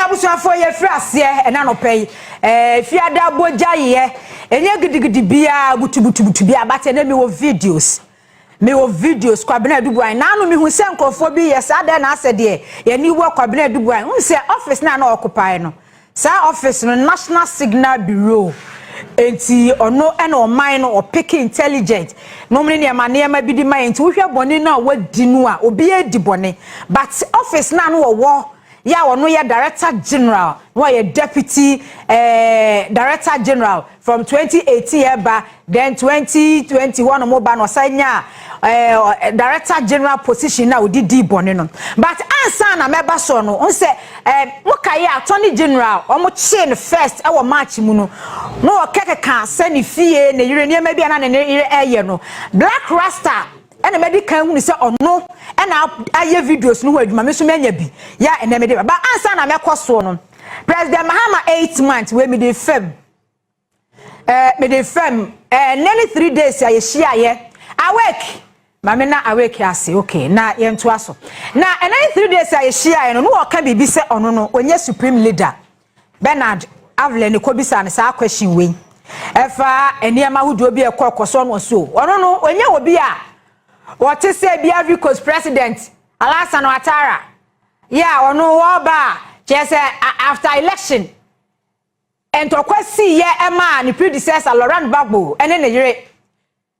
abusuafoɔ yɛfiri aseɛ ɛna nɔpɛ yi ɛɛ fiada bogya yɛ ɛnyɛ gidigidi biara butubutubutu biara bate ɛna mi wɔ videos. Mewɔ videos Kwabena Adubuan na ano mehu sɛ nkurɔfoɔ bi reyɛ saa dɛn na asɛ deɛ y'ani wɔ Kwabena Adubuan wohu sɛ office no a na ɔkopae no saa office no National Signal Bureau enti ɔno ɛna ɔman no ɔpeke intelligent nom ne nneɛma nneɛma bi de ma yɛ nti wohwɛ bɔne no a wadi no a obiara di bɔne but office no a no wɔwɔ yɛ a ɔno yɛ director general na ɔyɛ deputy eh, director general from 2018 ɛba then 2020 hɔ nom ba na ɔsan nya eh, director general position na ɔde di bɔne no but ansa na mɛba soɔ no ɔn sɛ eh, mokaeɛ attorney general ɔmo kyee no first ɛwɔ march mu no na ɔkɛkɛka sɛ ne fie ne yere nneɛma bi a na ne yere ɛyɛ no black rasta Ɛna madi kan hunu sɛ ɔno na ayɛ videos no ho adwuma, me nso manya bi yɛ a ɛnɛ mede ba. Ba ansa na mɛkɔ soɔ no, President Mahama eight month wei mede fam. Eh, mede fam. Eh, ɛnɛ ne three days a yɛhyiaeɛ. Awake! Ma me na awake ase, okay, na yɛntoa so. Na ɛnɛ ne three days a yɛhyiaeɛ no, na ɔka biribi sɛ ɔno no, ɔnyɛ supreme leader. Bernard Avler ne kɔbisaa no saa question wei. Ɛfa nneɛma ahodoɔ bi a ɛkɔ ɛkɔ so ɔno so. Ɔno no, ɔnyɛ obi a wɔte sɛ bi Ivory Coast president Alassane Ouattara. Yɛ a ɔno wɔba a kyerɛ sɛ after election ntɔkwa sii yɛ ɛmaa ne predecessor Laurent Gbagbo ɛne ne yere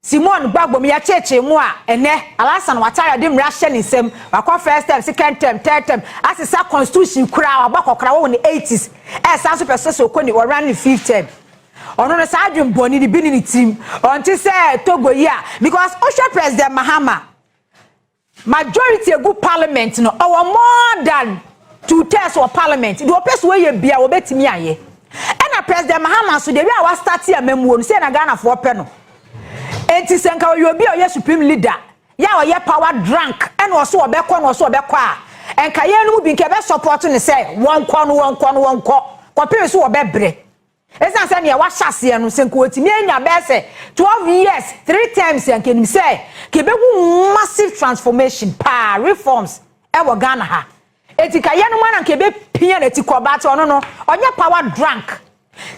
Simone Gbagbo mu yɛkyeekyee mu a, ɛnnɛ, Alassane Ouattara de mmara ahyɛ ne nsam, wakɔ first term, second term, third term, asesa constitution koraa, wabɔ akɔkoraa, wɔ wɔ ne 80s, ɛresan nso pɛ sɛ sɛ ɔkɔ ne, ɔrun ne fifth term. Ɔno no, saa adwen bɔne no bi ne ne tirim, ɔnte sɛ Togo yi a, because wohwɛ President Mahama, Majority egu parliament no ɔwɔ more than two thirds wɔ parliament deɛ ɔpɛ so ɔyɛ bia ɔbɛtumi ayɛ ɛna president mahama so deɛ wia wa starte amamuo no sɛ na Ghana foɔ pɛ no enti sɛ nka ɔyɛ obi a ɔyɛ supreme leader ya ɔyɛ power drunk ɛna ɔso ɔbɛkɔ na ɔso ɔbɛkɔ a nka yɛn no mu bi nka ɛbɛ support no sɛ wɔnkɔ no wɔnkɔ no wɔnkɔ kɔpem so ɔbɛbrɛ Esiane sɛ nea wahyɛ aseɛ no, sɛ nka ɔtumi anya bɛyɛ sɛ 12 years, three terms a, nka ɛnim sɛ nka ɛbɛhu massive transformation paa, reforms wɔ Ghana ha. Enti nka yɛnom ara na nka ɛbɛpia n'atikɔ, but ɔno no, ɔnyɛ power drunk.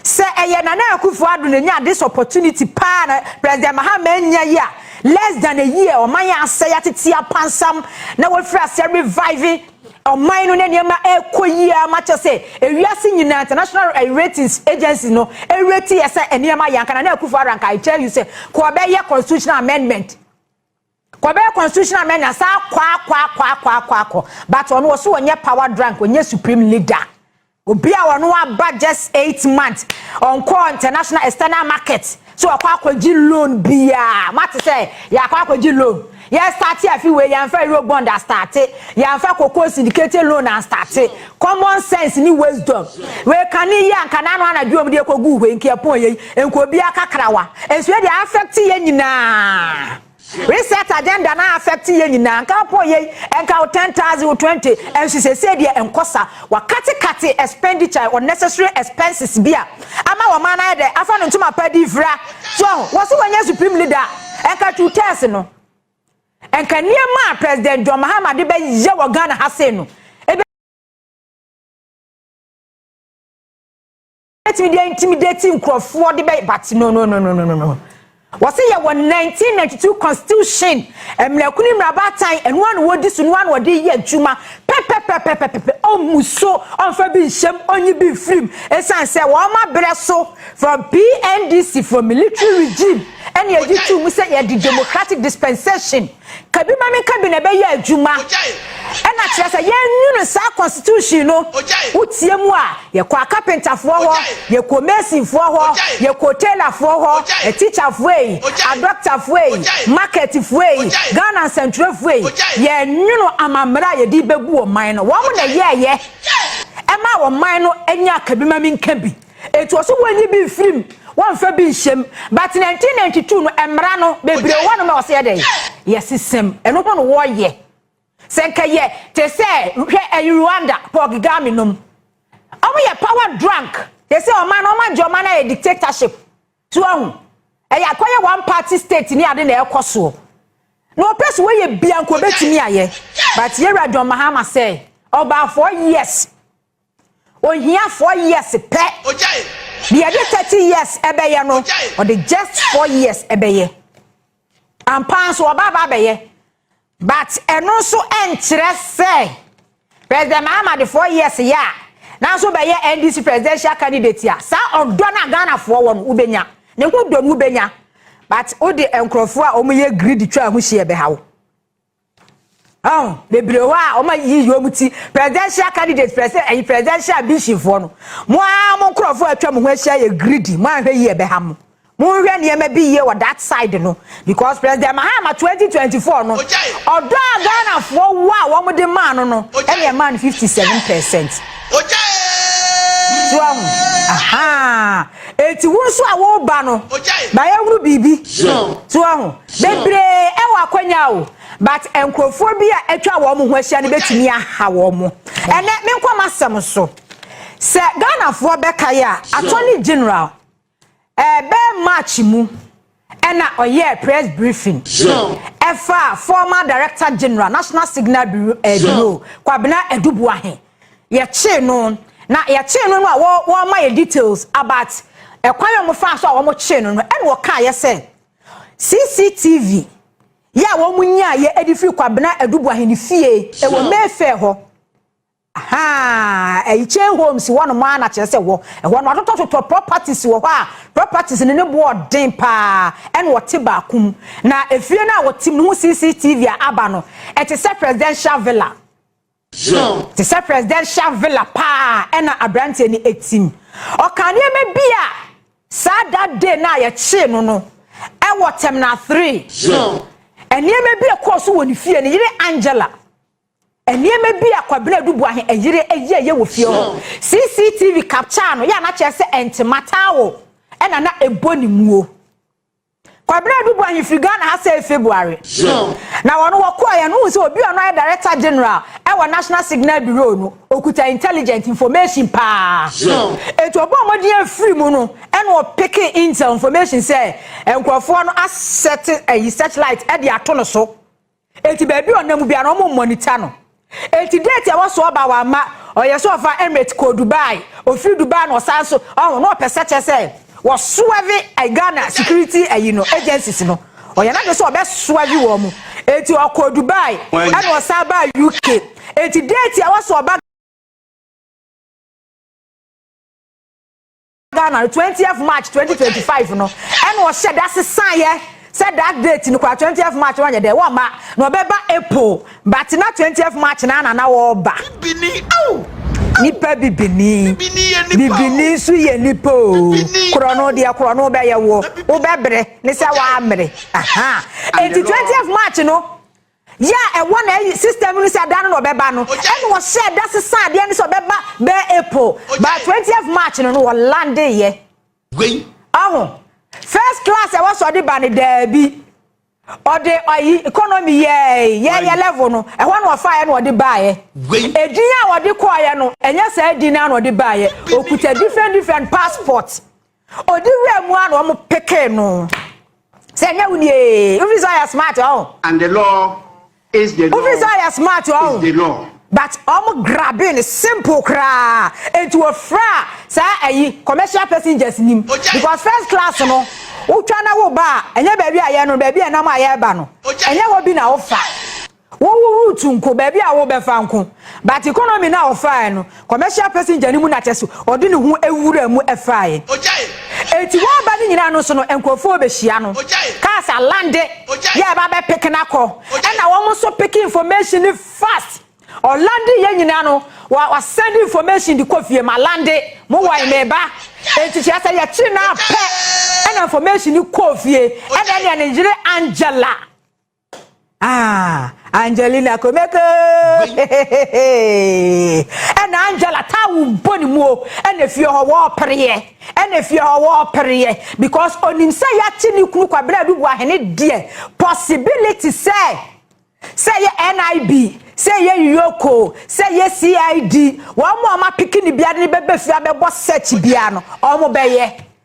Sɛ ɛyɛ Nana Akufo Addo na ɛnyaa this opportunity paa na President Mahama annya yi a, less than a year, ɔman yɛ asɛe, atete apansam, na wafiri aseɛ revive, Ɔman no ne nneɛma rekɔ yie ara ma kyerɛ sɛ ewiase nyinaa international ratings agencies no rate yɛ sɛ nneɛma yɛ anka Nana Akufo-Addo anka I tell you sɛ kɔ bɛyɛ constitutional amendment kɔ bɛyɛ constitutional amendment saa kɔ akɔ akɔ akɔ akɔ akɔ but ɔno ɔso ɔnyɛ power drunk ɔnyɛ supreme leader Obi a ɔno aba just eight months ɔnkɔɔ international external market sɛ wakɔ akɔgye loan biaa moate sɛ yɛakɔ akɔgye loan yɛ starte afi wei yɛamfa euro bond astarte yɛamfa cocoa syndicated loan anstarte common sense ne wisdom wei kane yi anka na ano anadwo ɔm deɛ kɔguu hwei nkeɛpɔn yei nka obi akakrawa nso yɛ deɛ affect yɛ nyinaa Reset agenda no a affect yɛn nyinaa nka wo pɔn yei nka wo ten thousand wo twenty nso seesei deɛ nkɔ sa wa kate kate expenditure unnecessary expenses bi a ama wɔ man no ayɛ dɛ afa no ntoma pa di vira so wahu wɔ se wanyɛ supreme leader a nka two ters no nka nneɛma a president John Mahama de bɛ yɛ wɔ Ghana ha sei no bɛtumi de intimidate nkurɔfoɔ de bɛ but no no no no no no no wɔsi yɛ wɔ 1992 constitution mmerɛko ne mmerɛbaatan ɛno ano wɔdi so no ano wɔde yɛ adwuma pɛpɛpɛpɛpɛpɛ ɔmu so ɔnfa bi nhyɛm ɔnyi bi mfirim esan sɛ wɔn abrɛ so from PNDC from military regime ɛna yɛgye tu mu sɛ yɛde democratic dispensation. Ka bi ma me nka bi na ɛbɛyɛ adwuma. Ɛna kyerɛ sɛ yɛnwunu saa constitution no. Wotie mu a, yɛkɔ akapentafoɔ hɔ, yɛkɔ masonfoɔ hɔ, yɛkɔ tailorfoɔ hɔ, ateacherfoɔ ei, adɔktafoɔ ei, marketfoɔ ei, Ghana nsɛntwerɛfoɔ ei, yɛnwunu amammerɛ a yɛde bɛbu ɔman no. Wɔn na ɛyɛɛyɛ ɛmaa ɔman no nyaa ka bi ma me nka bi. Enti ɔse wɔnyi bi mfiri mu, wɔnfa bi nhyɛ mu. But 1992 no mmara no bebree wɔ hɔ nom a wɔse yɛ dɛn? Yɛsesa mu. Ɛno ho no wɔyɛ. Sɛ nka yɛ te sɛ hwɛ ɛyi Rwanda, Paul Kgame nom. Wɔn yɛ power drunk. Yɛse ɔman no wɔn agye ɔman no ayɛ dictatorship. So wahu? Ɛyɛ akɔyɛ one party state ne ade na ɛkɔ soɔ. Na ɔpɛ so wɔyɛ bia nka ɔbɛtumi ayɛ. But yɛ wura John Mahama sɛ ɔbaa four years Ohia four years pɛ. Deɛ yɛde thirty years ɛbɛyɛ no, ɔde just four years ɛbɛyɛ. Ampa nso ɔba aba abɛyɛ. But ɛno nso ɛnkyerɛ sɛ President Mahama de four years yɛ a, nanso bɛyɛ NDC presidential candidate a, saa ɔdɔ no a Ghanafoɔ wɔ no, wobɛnya. Ne ho dɔ no wobɛnya. But wode nkurɔfoɔ a wɔyɛ greedy twa ho hyia bɛha wo. Oh, bebree hɔ a wɔn a yiyi wɔn ti presidential candidates pɛsɛ ɛyi presidential ambitionfoɔ no mo ara mo nkorɔfoɔ atwa mo ho ahyia yɛ greedy mo anhwɛ yie ɛbɛha mo mo nhwɛ nneɛma bi yie wɔ that side no because president mahama 2024 no ɔdɔ a ghanafoɔ wɔ a wɔn de maa no no ɛna ɛmaa no 57 percent so ahu aha eti wo nso a wɔba no bayɛ hunu biribi so ahu. Bebree wɔ akwanya o, but nkurɔfoɔ bi a atwa wɔn ho ahyia no bɛtumi aha wɔn. Ɛnɛ, menkɔ m'asɛm so. Sɛ Ghanafoɔ bɛkae a, Attorney General, ɛbɛyɛ March mu ɛna ɔyɛɛ press briefing ɛfa former Director General, National Signal Bureau, Kwabena Aduboahe. Yɛkyee no, na yɛkyee no no a, wɔma yɛ details about ɛkwan a wɔfaa so a wɔkyee no no, ɛna ɔkaeɛ sɛ, CCTV yɛ a wɔnyaeɛ de firi Kwabena Adubu Ahene fie wɔ Mayfair hɔ. Ahaa, ɛyɛ chain homes hɔ nom ara na kyerɛ sɛ hɔ. Ɛhɔ no atotɔtotɔ properties wɔ hɔ a properties no ne boɔ den paa ɛna ɔte baako mu. Na efie no a wɔtem no ho CCTV a aba no, ɛte sɛ presidential villa. John. Te sɛ presidential villa paa ɛna abranteɛ no ɛtim. Ɔkaa nneɛma bi a saa that day no a yɛkyee no no ɛwɔ terminal three. John. Nneɛma bi a ɛkɔɔ so wɔ ne fie, ne yere Angela. Nneɛma bi a Kwabena Adubuahe ɛyere ɛyɛɛyɛ wɔ fie hɔ. John. CCTV capture no yɛ a na kyerɛ sɛ ɛntema towel ɛna na ɛbɔ ne muo. Kwabena Aduboah he firi Ghana ha sɛɛ February. Na wɔn wɔ kɔɔ yɛ no wohu sɛ obi a ɔno ayɛ Director General ɛwɔ National Signal Bureau no ɔkuta intelligent information paa. Enti ɔbɔɔ mmɔden afiri mu no ɛna ɔpekee intel information sɛ nkorɔfoɔ no asɛte ayi searchlight ɛde ato no so. Enti baabi a ɔnam mu biara no wɔn monitor no. Enti date a ɛwɔ so ɔba wamma ɔyɛ sɛ ɔfa Emirate kɔɔ Dubai, ɔfiri Dubai na ɔsan so ɔho na ɔpɛ sɛ kyɛ sɛ wɔ soɛve Ghana security ayi no agencies no ɔyɛ n'ade sɛ ɔbɛ soɛve wɔn mu enti ɔkɔɔ Dubai ɛna ɔsan baa UK enti date a ɛwɔ so ɔba Ghana no twentieth March twenty twenty five no ɛna ɔhyɛ da sesaeɛ sɛ that date no koraa twentieth March no ɔnyɛ dɛ wɔmma na ɔbɛba April but na twentieth March no ara na na ɔreba. Bibini ao! Nipa bibini. Bibini yɛ nipa o. Bibini nso yɛ nipa o. Bibini. Korɔ no deɛ korɔ no bɛyɛ woɔ. Wobɛbrɛ ne sɛ wammere. Aha. Enti twentieth March no. Yɛ a ɛwɔ na ɛyi system no sɛ da no na ɔbɛba no ɛna ɔhyɛɛ da sesaa adeɛ no sɛ ɔbɛba bɛɛ April but twentieth March no no ɔlandeeɛ. Wei. Ɔho. First class a ɛwɔ sɛ ɔde ba no daabi ɔde ayi economy yɛɛe yɛɛyɛ level no ɛhɔ na ɔfaeɛ na ɔde baeɛ. Wei. Edin a ɔde kɔeɛ no ɛnyɛ saa edin no ara na ɔde baeɛ ɔkuta different different passport Odi wura mu a na wɔn pekee no. Sɛ ɛnyɛ wo nie, wofiri sɛ ɔyɛ smart ɔho. And the law is the law. Wofiri sɛ ɔyɛ smart ɔho. Is the law. But wɔn grabe no simple koraa. Enti wɔfra saa ayi commercial passengers nim. Because first class no, wotwa na woba a, ɛnyɛ baabi a yɛn no, baabi a ɛnam a yɛreba no, ɛnyɛ hɔ bi na wofa. Wo wo route nko baabi a wo bɛfa nko but economy no a ɔfaaɛ no commercial passenger no mu na kyɛsɛ ɔde ne ho awura mu faaɛ enti waba no nyinaa no nso no nkorɔfoɔ bɛhyia no cars a lande yɛ ba bɛ pick no akɔ ɛna wɔn nso pick information no fast ɔlande yɛ nyinaa no wa wa send information de kɔ fie ma lande mo wɔn meba enti kyerɛ sɛ yɛkyi na pɛ ɛna information no kɔ fie ɛna ɛna ne yere Angela Ah, Angelina Komeko. Ɛna Angela ta wo bɔ ne mu o. Ɛna fie hɔ wɔ pereɛ. Ɛna fie hɔ wɔ pereɛ because onim sɛ yɛakye ne kunu kwabena bi bu ahene deɛ possibility sɛ sɛ yɛ NIB sɛ yɛ yoko sɛ yɛ CID wɔn a wɔn apiki ne biara ne bɛbɛ fie abɛbɔ search biara no wɔn bɛyɛ.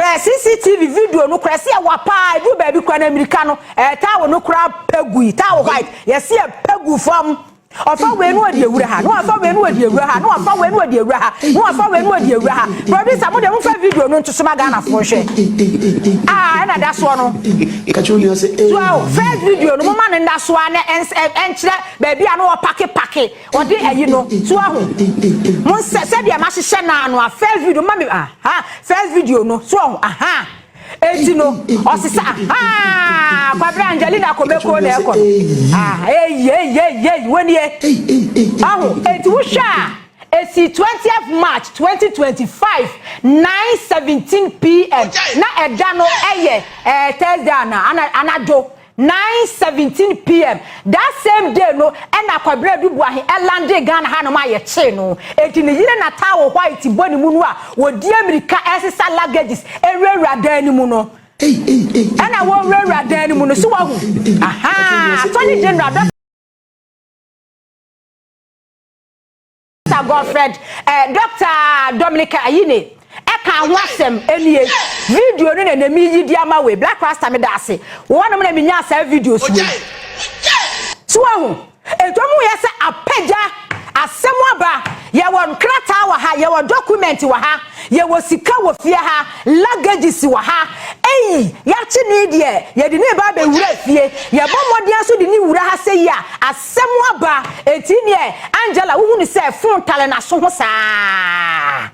Hwɛ CCTV video no koraa, ɛsɛ yɛ wa paa, ɛduru baabi koraa na mirika no, ɛtaa wo no koraa pɛ gui, taa wo white, yɛsɛ yɛ pɛ gu fam. Ɔfa wei no ɔde awura ha, no ɔfa wei no ɔde awura ha, no ɔfa wei no ɔde awura ha, no ɔfa wei no ɔde awura ha. Producer mo de mo fa video no ntoso ma Ghana fo nhwɛ. Ah, ɛna da soɔ no. Kakyɛ onua sɛ eh. So first video no mo ma no nda soa na ɛnkyerɛ baabi a no ɔpake pake. Ɔde ayi no so ahu mo nsɛ sɛdeɛ ma hyehyɛ naa no a first video ma me aha first video no so ɔho aha eti no ɔsesa aha kwabere Angelina komeko na ɛkɔ no ah eyi eyi eyi eyi wonie ɔho eti wohwɛ a esi 20th March 2025 9:17 pm na ɛda no ɛyɛ ɛɛ Thursday ana ana anadwo 9:17 pm that same day no na Kwabena Aduboahe landee Ghana hanom a yɛkyee no. Enti ne yere na towel white bɔ ne mu no a wɔdi amirika resesa luggages awurawura dan no mu no, ɛna wɔwurawura dan no mu no. So wahu? Ahaa! Attorney General bɛ. Dɔkta Godfred eh, Dɔkta Dominic Ayine ɛka ho asɛm ɛnie video no na nɛmi yi di ama wei Black Rasta meda ase wɔnom na menyaa saa videos wei so wahu ɛnti ɔmo yɛ sɛ apagya asɛm aba yɛwɔ nkrataa wɔ ha yɛwɔ document wɔ ha yɛwɔ sika wɔ fie ha luggages wɔ ha eyi yɛakye ne deɛ yɛde ne ba bɛwura fie yɛbɔ mmɔden so de ne wura ha sɛ yi a Sɛ mo aba nti neɛ Angela wohu no sɛ fon tare naso ho saa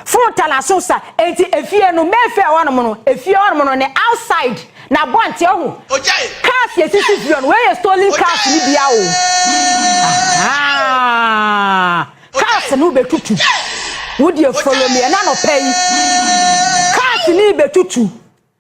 fon tare naso ho saa enti efie no mɛfɛ hɔnom no efie hɔnom no ne outside na abɔnten ɔho cars yɛ sisi fie hɔnom wei yɛ stolen cars no bia o ahaa cars no bɛtutu wodeɛ follow me ɛna nɔpɛ yi cars no bɛtutu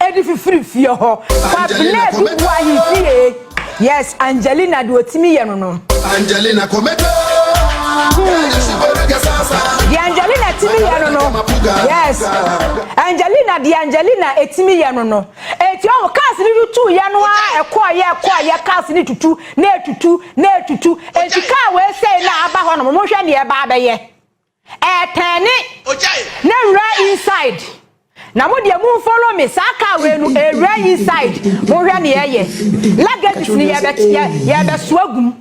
Ɛde fifiri fie hɔ. Kwabena bi wu ahemfie. Yes, Angelina de otimi yɛ no no. Angelina Kometo. Di Angelina timi yɛ no no. Yes. Angelina di Angelina etimi yɛ no no. Eti ɔmo cars ni tutu yɛ no a ɛkɔ yɛ ɛkɔ yɛ cars ni tutu na etutu na etutu. Eti car wei sei na aba hɔ no mo hwɛ ne ɛba abɛyɛ. Ɛɛ tɛɛne na nwura inside na mo deɛ mo nfollow me saa car wei no ɛɛwura inside mo hwɛ neɛ ɛyɛ luggages no yɛɛbɛ yɛɛbɛ soa gu mu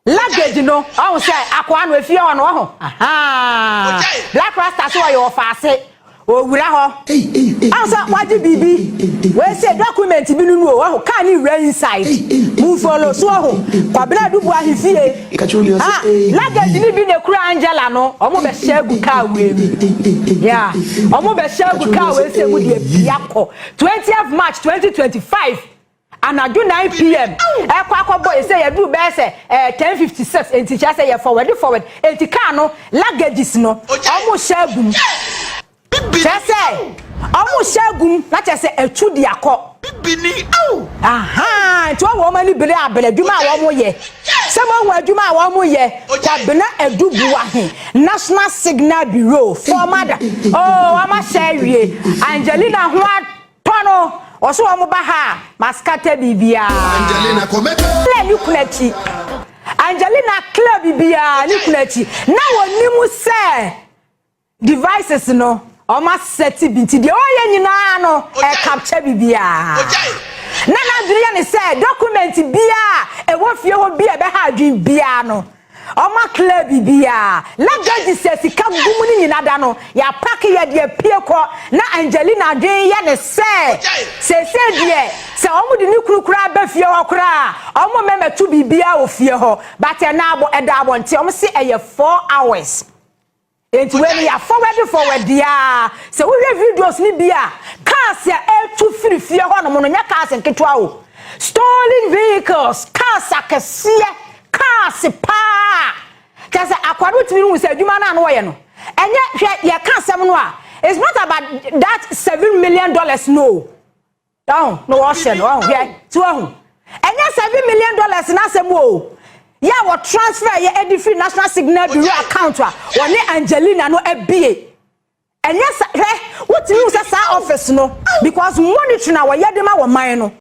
luggage no ɔho sɛ akoa no efie hɔ no ɔho ahaa black rasta so ɔyɛ ɔfaase Owura hɔ a sɛ wagye biribi wei sɛ document bi no mu o wahu car ne wura inside mu mfolo so wahu Kwabena Adubu ahefie ha luggage ne bi na ekura Angela no wɔn bɛ hyɛ agu car wei mu yeah wɔn bɛ hyɛ agu car wei sɛ mu deɛ pia kɔ 20th March 2025. Anadwo 9 pm ɛkɔ akɔbɔ yɛ sɛ yɛduru bɛyɛ sɛ ɛɛ 10:56 enti kyerɛ sɛ yɛ forward forward enti kaa no luggages no ɔmo hyɛ agum kyerɛ sɛ ɔmo hyɛ agum na kyerɛ sɛ ɛtu de akɔ ahaa nti wɔn wɔn ani bere abere adwuma a wɔn yɛ sɛ mo ahu adwuma a wɔn yɛ kwabena adubuahe national signal bureau former da oo wɔn ahyɛ awie angelina ho a. Pɔ no, ɔso wɔn ba ha a, maskata biribiara. Angelina, kɔ mɛka. Claire ne kunu akyi. Angelina, Claire biribiara ne kunu akyi. Na wɔnim sɛ devices no wɔn asɛte bi nti deɛ ɔyɛ nyinaa no ɛkapkyɛ biribiara. Na n'adwene yɛ ne sɛ document biara ɛwɔ fie hɔ bi a ɛbɛha adwene biara no. Ɔma clear biribiaa. Na judges a sika gu mu no nyina da no yɛapake yɛ de apue kɔ. Na Angelina adwene yɛ no sɛ seesei deɛ sɛ ɔmo de ne kunu koraa ba fie hɔ koraa a ɔmo mmɛmɛto biribiaa wɔ fie hɔ. But ɛnɛ abɔ ɛda abɔnten ɔmo se ɛyɛ four hours. Enti wei no yɛ fɔwɛde fɔwɛde ara. Sɛ wohwɛ videos no bi a, cars a ɛretu firi fie hɔnom no, nyɛ cars nketewa o. Stolen vehicles, cars akɛseɛ, cars paa. Kyerɛ sɛ akoa no wotumi hu sɛ adwuma no a na wɔyɛ no, ɛnyɛ, hwɛ, yɛka asɛm no a, it's not about that seven million dollars no o. ɔho na wɔhyɛ no ɔho hwɛ ti ɔho ɛnyɛ seven million dollars n'asɛm o yɛ a wɔ transfer yɛ ɛdi firi national signal bureau account a wɔne angelina no abie ɛnyɛ sɛ hwɛ wotumi hu sɛ saa office no because monitoring a wɔyɛ de ma wɔ man no.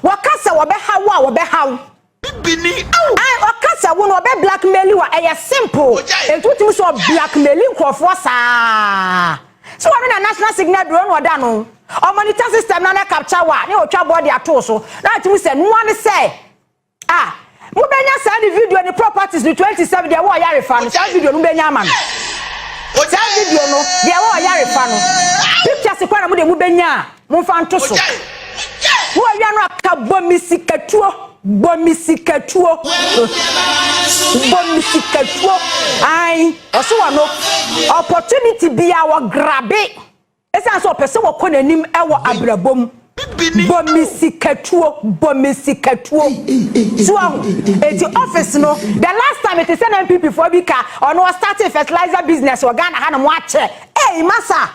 Wɔka sɛ wɔbɛhaw wo a wɔbɛhaw. Bibini aw. Ai ɔka sɛ wo no ɔbɛ blackmail wo a ɛyɛ simple. Ogyae. Enti wotumi sɛ ɔblackmaili nkurɔfoɔ saa. Sɛ wɔne na national signal duro na ɔda no. Ɔmonitor system no na capture wo a na ɔtwa bɔ de ato wo so. Na atumi sɛ noa ne sɛ A, Mobɛnya saa ne video ne Properties no 27 Deɛ Ɛwɔ Ɔyare Fa no, saa video no mobɛnya ama no. Saa video no, Deɛ Ɛwɔ Ɔyare Fa no, pictures koraa na mode mobɛnya a, momfa nto so. Moawia no a, ka Bɔ Me Sikatuo, Bɔ Me Sikatuo, Bɔ Me Sikatuo, ae, ɔso wɔ no, opportunity biara wɔgrabe. Esiane sɛ ɔpɛ sɛ wɔkɔ n'anim wɔ abrabɔ mu. Bɔ me sikatuo, bɔ me sikatuo. So ahu? Enti office no, the last time mete sɛ na NPP foɔ bi ka, ɔno ɔstartee fertilizer business wɔ Ghana hanom akyɛ. Ei masa!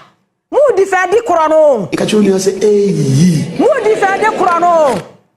Mo defendi korɔ no o. Ka kyerɛ onua sɛ, Eii! Mo defendi korɔ no o.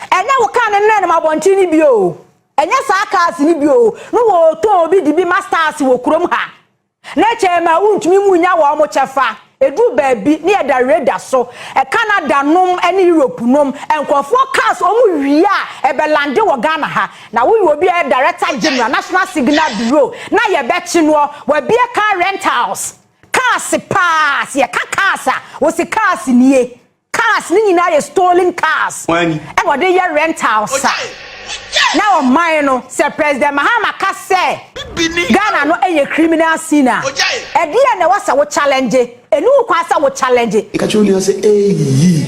Ɛnyɛ wo car no na ɛnam abɔnten no bio o, ɛnyɛ saa cars no bio o, na wɔretɔn obi de bi ma stars wɔ kurom ha. Ne kyɛ ɛma wontumi mu nya wɔn kyɛfa. Ɛduru baabi na yɛda radar so. Canada nom ne Europe nom, nkurɔfoɔ cars wɔn wie a, ɛbɛ lande wɔ Ghana ha. Na woyɛ obi a ɛyɛ Director General, National Signal Bureau, na yɛbɛkye noɔ. Wabue car rentals. Cars paa, sɛ yɛka cars a, wo se cars nie. Cars no nyinaa yɛ stolen cars na wɔde yɛ rentals a na ɔman no sɛ President Mahama ka sɛ Ghana no yɛ criminal scene a, ɛdeɛn na ɛwɔ sɛ wo challenge? Ɛnni wo kwan sɛ wo challenge. Ka kyerɛ wo nua sɛ, Eii!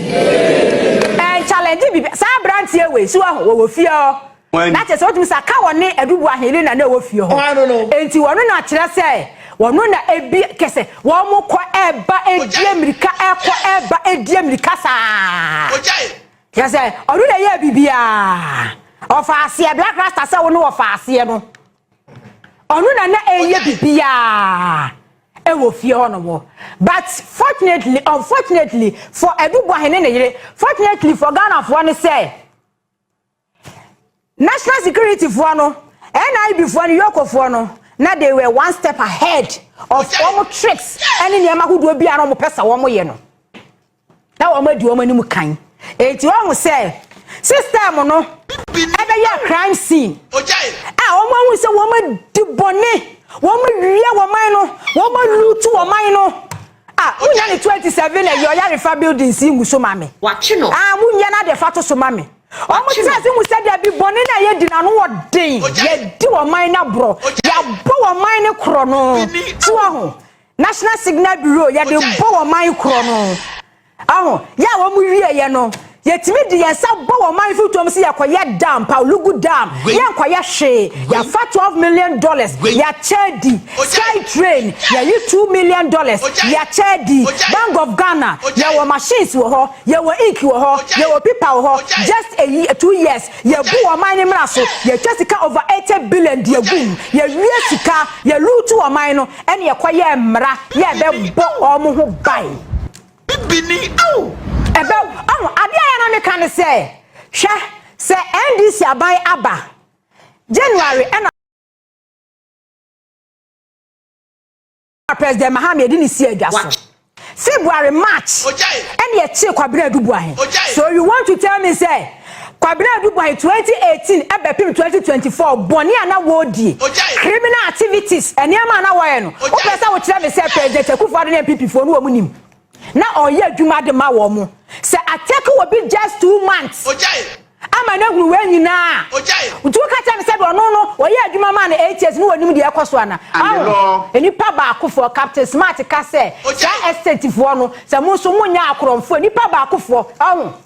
Ɛnchallenge biribiara. Saa aberanteɛ wei, so woahu, wɔwɔ fie hɔ. Na kyerɛ sɛ, wotumi sɛ, ka wɔne Aduboa Helena no a ɛwɔ fie hɔ. Enti wɔno na kyerɛ sɛ, wɔno na ebi kɛ sɛ, wɔkɔ ɛba ɛdi amirika ɛkɔ ɛba ɛdi amirika saa. Kyerɛ sɛ, ɔno na ɛyɛɛ biribiara. Ɔfa aseɛ, Black Rasta sɛ wo no ɔfa aseɛ no. Ɔno na na ɛyɛ biribiara ɛwɔ fie hɔ nom. But fortunately, unfortunately for Aduboa Hene ne yere, fortunately for Ghanafoɔ ne sɛ, National security foɔ no, NIB foɔ no, Yoko foɔ no, na they were one step ahead of wɔn tricks ɛne nneɛma ahodoɔ bi a na wɔn pɛ sɛ wɔn yɛ no. Na wɔn adi wɔn anim kan. Eti wɔn sɛ system no ɛbɛyɛ crime scene a wɔn ahu sɛ wɔn adi bɔne, wɔn awia wɔn man no, wɔn alutu wɔn man no. Ah, munya ne 27 ɛyɛ ɔyarefa buildings yi ngu so ma me. Watwe no. Ah, munya na de fa to so ma me. Wɔn tiri ase hu sɛ dabi bɔne no a yɛdi no ano wɔ den, yɛdi wɔn man no aborɔ, yɛabɔ wɔn man no korɔ no. So ahu, National Signal Bureau, yɛde bɔ wɔn man korɔ no. Ahu, yɛ a wɔn wieɛ no, yɛtumi de yɛn nsa bɔ wɔn man fotoom sɛ yɛkɔyɛ dam, Paulugu Dam, yɛnkɔyɛ hwee, yɛafa 12 million dollars, yɛakyɛ di, Sky Train, yɛyi 2 million dollars, yɛakyɛ di, Bank of Ghana, yɛwɔ machines wɔ hɔ, Yɛwɔ ink wɔ hɔ, yɛwɔ pipa wɔ hɔ, just a year, two years, yɛbu ɔman no mmra so, yɛtwa sika over eighty billion de agu mu, yɛwie sika, yɛ loot ɔman no, ɛna yɛkɔyɛɛ mmra yɛ ɛbɛbɔ wɔn ho ban. Bibini oh! Ɛbɛ, ɔho, adeɛ a yɛ na meka ne sɛ, hwɛ, sɛ NDC aban aba, January ɛna. a President Mahama yɛde ne si adwa so. February, March, ɛna yɛkyee Kwabena Adubuahe. So you want to tell me sɛ Kwabena Adubuahe 2018 ɛbɛpem 2024 bɔne a na wɔredie, criminal activities, nneɛma a na wɔyɛ no, wopɛ sɛ wokyerɛ me sɛ President Akufo-Addo ne NPP foɔ no wɔn nim? Na ɔyɛ adwuma de ma wɔn. Sɛ I take obi just two months. Ogyae. Ama no ahunu wei nyinaa. Ogyae. Nti wo ka kyerɛ no sɛ deɛ ɔno no ɔyɛ adwuma maa no eight years no wɔnim deɛ ɛkɔ so ana? And the law. Wahu? Nnipa baakofoɔ, Captain Smart ka sɛ, Ogyae. Saa estate foɔ no, sɛ mo nso monyɛ akorɔmfoɔ, nnipa baakofoɔ, wahu?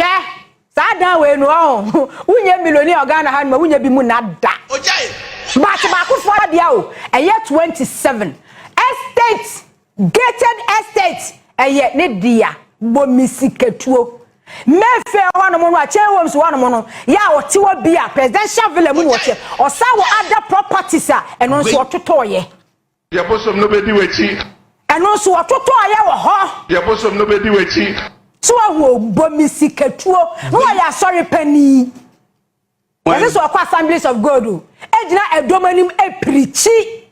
Hwɛ saa dan wei no ɔho wonyɛ miloni wɔ Ghana ha nom a wonyɛ bi mu na da but baako foɔ deɛ o ɛyɛ 27 estate gated estate ɛyɛ ne dea bɔ me sikatuo mefe hɔ nom no a chain homes hɔ nom no yɛ a ɔte hɔ bi a presidential villa mu na ɔteɛ ɔsa wɔ other properties a ɛno nso ɔtotɔɔyɛ Deɛ bosom no bɛdi w'akyi. Ɛno nso wɔtotɔɔ yɛ wɔ hɔ. Deɛ bosom no bɛdi w'akyi. So wahu o, bɔ me sikatuo. Na ɔyɛ asɔre panin. Ɛsɛ sɛ ɔkɔ Assemblies of God o. Ɛgyina ɛdɔm anim ɛpirikyi.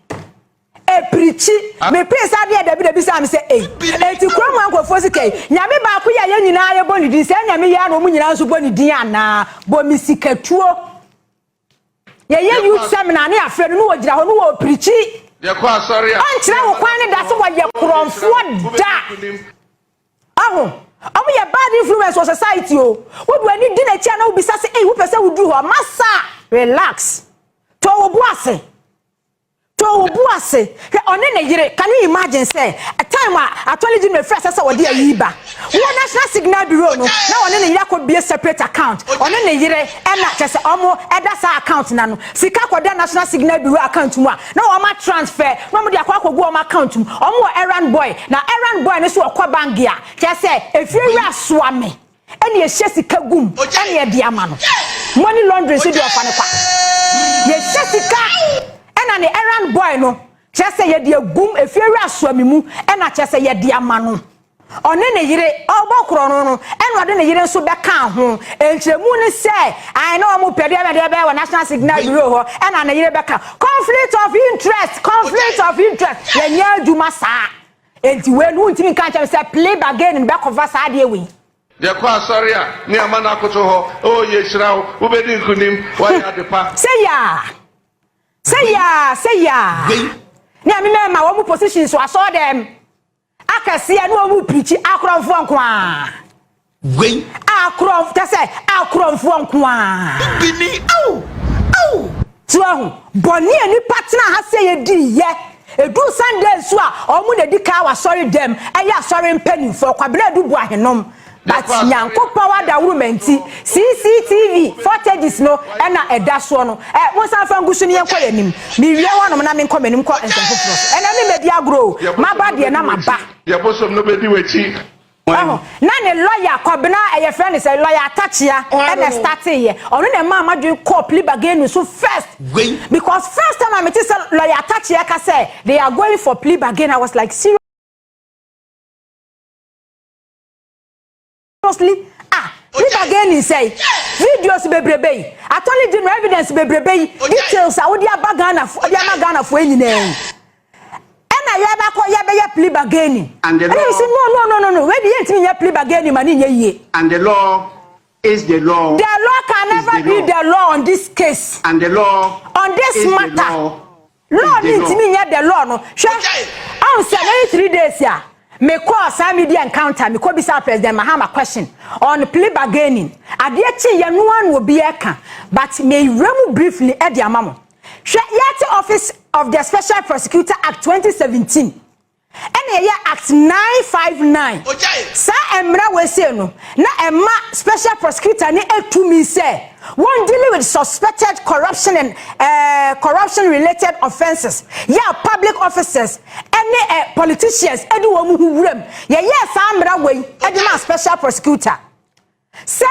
Ɛpirikyi. Mepee sɛ adeɛ dabi dabi saa me sɛ ei. Enti kurom ha nkurɔfoɔ sika yi. Nyame baako yi a yɛn nyinaa yɛbɔ ne din sɛ ɛna meyɛ ara na wɔn nyinaa nso bɔ ne din anaa? Bɔ me sikatuo. yɛyɛ youth seminar ne afrɛ no ne wɔgyina hɔ ne wɔpirikyi ɔnkyerɛ wo kwan ne da sɛ wɔyɛ korɔmfoɔ da aho ɔmo yɛ bad influence wɔ society o wode w'ani di n'akyi a na wobisa sɛ ei wopɛ sɛ woduru hɔ masa relax tɔ wo bo ase To wo bo ase hwɛ ɔne ne yere. Can you imagine sɛ a time a attorney general firi asɛ sɛ wɔde ayi ba wɔ national signal bureau no na ɔne ne yere akɔ bue separate account ɔne ne yere ɛna kyerɛ sɛ ɔmo ɛda saa account no ano sika kɔ da national signal bureau account mu a na wɔn a transfer na ɔmo de akɔ akɔ gu ɔmo account mu ɔmo wɔ errand boy na errand boy no nso ɔkɔ bank a kyerɛ sɛ efie wura soa me. Ɛna yɛhyɛ sika gum ɛna yɛde ama no money laundry nso deɛ ɔfa no kwa yɛhyɛ sika ɛna ne errand boy no kyerɛ sɛ yɛde agum efie wura soami mu ɛna kyerɛ sɛ yɛde ama no ɔne ne yere ɔbɔ korɔ no no ɛna ɔde ne yere nso bɛka ho nkyerɛmu ne sɛ ae na ɔmo pɛ deɛ ɛna deɛ ɛbɛyɛ wɔ national signal bureau hɔ ɛna ne yere bɛka conflict of interest conflict of interest yɛnyɛ adwuma saa Enti wei no wontumi nka nkyerɛ me sɛ plea bargain no bɛkɔfa saa adeɛ wei. Deɛ kɔ asɔre a ne ama no akoto hɔ oh yɛhyira wo wobɛdi nkonim woayɛ adepa. Sɛ yaa Sɛ yaa Sɛ yaa Nea me mɛma wɔn mu positions wɔ asɔɔdɛm akɛseɛ ne wɔn mu pirikyi akorɔmfoɔ nkoaa. Wei. Akorɔmf ka sɛ, Akorɔmfoɔ nko ara. Bi ni, ao, ao. So woahu? Bɔne a nnipa tenaa ha sɛ yɛdii yɛ. Ɛduu Sunday nso a, wɔn na ɛdi kan wɔ asɔredam, ɛyɛ asɔre mpanimfoɔ, Kwabena Adu boa henom. But Nyankopɔn adaworoma nti, CCTV footages no na ɛda soɔ no. Ɛ, monsan mfa ngu so na yɛnkɔ yɛn anim. Mewie hɔ nom na menkɔ m'anim nkɔ nsɛm foforɔ so. Ɛnnɛ memmɛdi agorɔ o. Maba deɛ na maba. Deɛ bosom no bɛdi w'akyi. Wahu. Na ne lɔya Kwabena a yɛfrɛ no sɛ lɔya Atakyea na ɛstateeɛ. Ɔno na ɛmaa m'adwene kɔɔ plea bargaining so first. Wei. Because first time a mete sɛ lɔya Atakyea reka sɛ they are going for plea bargaining, I was like seriously? Ah, plea bargaining sɛe? Videos bebrebe yi, attorney general evidence bebrebe yi, details a wode aba Ghanafoɔ, wode ama Ghanafoɔ yi nyinaa yi. Ɛna yɛbɛkɔ yɛbɛyɛ plea bargaining. And the Ɛna mesi law, no no no no no wei de yɛntumi nyɛ plea bargaining ma ne nyɛ yie. and the law is the law, The law can is never the be law. the law on this case. And the law On this is the matter. law, is Law the ne law. ntumi nyɛ the law no. Hwɛ, Ɔgyae. ɔn sɛ bɛyɛ three days a mekɔɔ saa media encounter mekɔ bisaa President Mahama question on plea bargaining. Adeɛ kyeeɛ no ara na obiara reka but mewura mu briefly de ama mo. Hwɛ, yɛate Office of the Special Prosecutor Act 2017, ɛna ɛyɛ Act 959. Ogyae. Saa mmara wei sei no, na ɛma Special Prosecutor no tumi sɛ wɔn deal with suspected corruption and eh, corruption related offences, yɛ a public officers ɛne eh, politicians ɛde wɔn ho wuram. Yɛyɛɛ saa mmara wei ɛde maa Special Prosecutor. Sɛ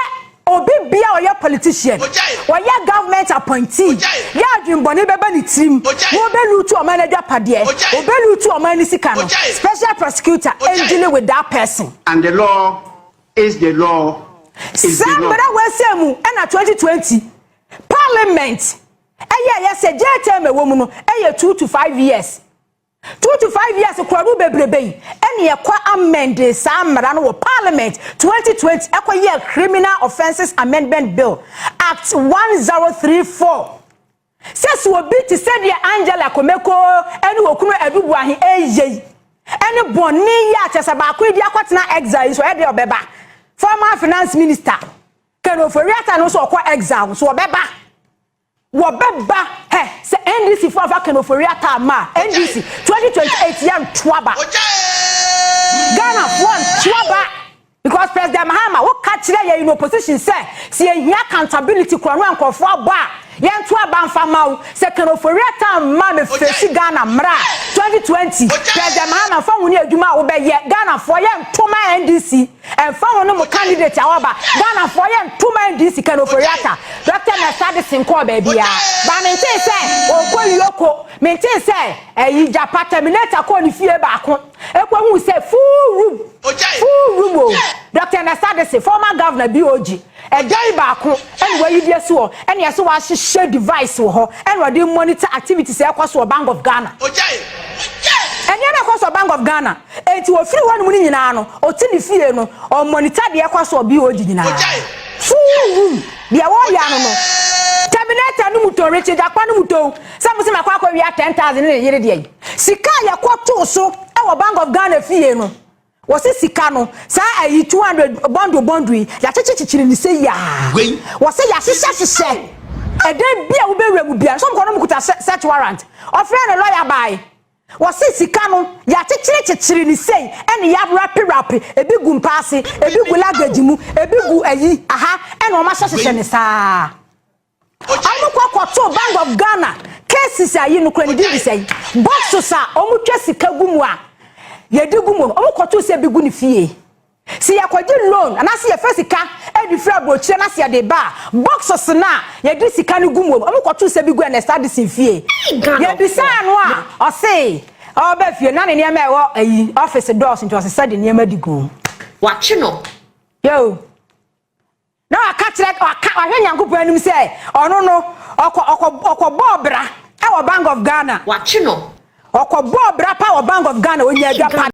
obi bia a ɔyɛ politician, ɔyɛ government appointee, yɛ adwenbɔne bɛba ne tirim na ɔbɛ lootu ɔman n'adwapadeɛ, ɔbɛ lootu ɔman no sika no, special prosecutor ndili with that person. And the law is the law is the law. Saa mmara wei sɛ mu ɛna 2020 parliament ɛyɛɛyɛ sɛ jail term ɛwɔ mu no ɛyɛ two to five years. Two to five years kura no bebrebe yi ɛne ɛkɔ amɛndee saa mmara no wɔ parliament twenty twenty ɛkɔ yɛɛ criminal offences amendment bill act one zero three four sɛ sɛ obi te sɛdeɛ Angela Komeko ɛne okunu Adu Boahe ɛɛyɛ yi ɛne bɔne yi a kyɛ sɛ baako yi de akɔtena exile yi so ɛyɛ deɛ ɔbɛba former finance minister Ken Ofori-Atta no nso ɔkɔ exile nso ɔbɛba Wɔbɛba hɛ sɛ NDC fo anfa Ken Ofori Atta amma a, NDC 2028 yɛntoa ba. Ghana foɔ ntoa ba because President Mahama wo ka kyerɛ yɛn in opposition sɛ sɛ yɛhia accountability korɔno a nkorɔfoɔ abɔ a yɛnto aba nfa mma wo. Sɛ Ken Ofori Atta amma a me face Ghana mmra 2020 President Mahama nfa nwo ne adwuma a wo bɛyɛ. Ghana foɔ yɛnto ma NDC. Ɛmfa ho no mo candidate a waba, Ghanafoɔ yɛ ntoma ndi sika no Ofori-Atta, Doctor Mensah de sen kɔɔ baabiara, but mentee sɛ ɔɔkɔ Yoko, mentee sɛ ɛyi Gyapa Terminator kɔɔ ne fie baako, ɛkɔ huu sɛ full room, full room o, Doctor Mensah de se former Governor BOG. Agya yi baako na wayi bi asi hɔ na yɛse wahyehyɛ device wɔ hɔ na ɔde monitor activities a ɛkɔ so wɔ Bank of Ghana. Nneɛma a ɛkɔ so wɔ Bank of Ghana, enti ɔfiri hɔnom no nyinaa no, ɔte ne fie no, ɔmonitor deɛ ɛkɔ so wɔ BOG nyinaa. Full room, deɛ wɔyɛ ano no, Terminator no mu tɔn, Richie Gyakpa no mu tɔn, sɛ mose makɔ akɔwia 10,000 ne ne yere deɛ yi. Sika a yɛkɔtoo so wɔ Bank of Ghana fie no, Wɔse sika no, saa ayi two hundred bundle bundle yi, yɛakyekye kyekyere no sei aa. Wei. Wɔse yɛahyehyɛ hyehyɛ. Ɛdan bi a wobɛwura mu biara, sɛ wɔkɔ no wɔkuta search warrant. Ɔfrɛɛ no lɔya baae. Wɔse sika no, yɛakyekyere kyekyere no sei ɛna yɛawrape wrape, ebi gu mpa ase, ebi gu luggage mu, ebi gu ayi, aha, ɛna wɔahyɛ hyehyɛ no saa. Ɔmo kɔ kɔ too bank of Ghana cases a yi no kura ne din de sɛn boxes a ɔmo twa sika gu mu a yɛde gu mu no ɔmo kɔ too sɛ ebi gu ne fie se yɛ kɔ gye loan anaa se yɛ fɛ sika ɛde firi abrokyire na se yɛ de ba a boxes no a yɛ de sika no gu mu no ɔmo kɔ too sɛ bi gu Ernest Addison fie yɛ bisaa no a ɔse ɔba fie na ne nneɛma ɛwɔ ayi office dɔɔso nti ɔsesa de nneɛma de gu mu. Wakye no. Yoo. Na waka kyerɛ, waka, wahwɛ Nyankopɔn anim sɛ ɔno no, ɔkɔ, ɔkɔ, ɔkɔbɔɔ bra wɔ Bank of Ghana. Wakye no. Ɔkɔbɔɔ bra pa wɔ Bank of Ghana, ɔnyaa adwapadeɛ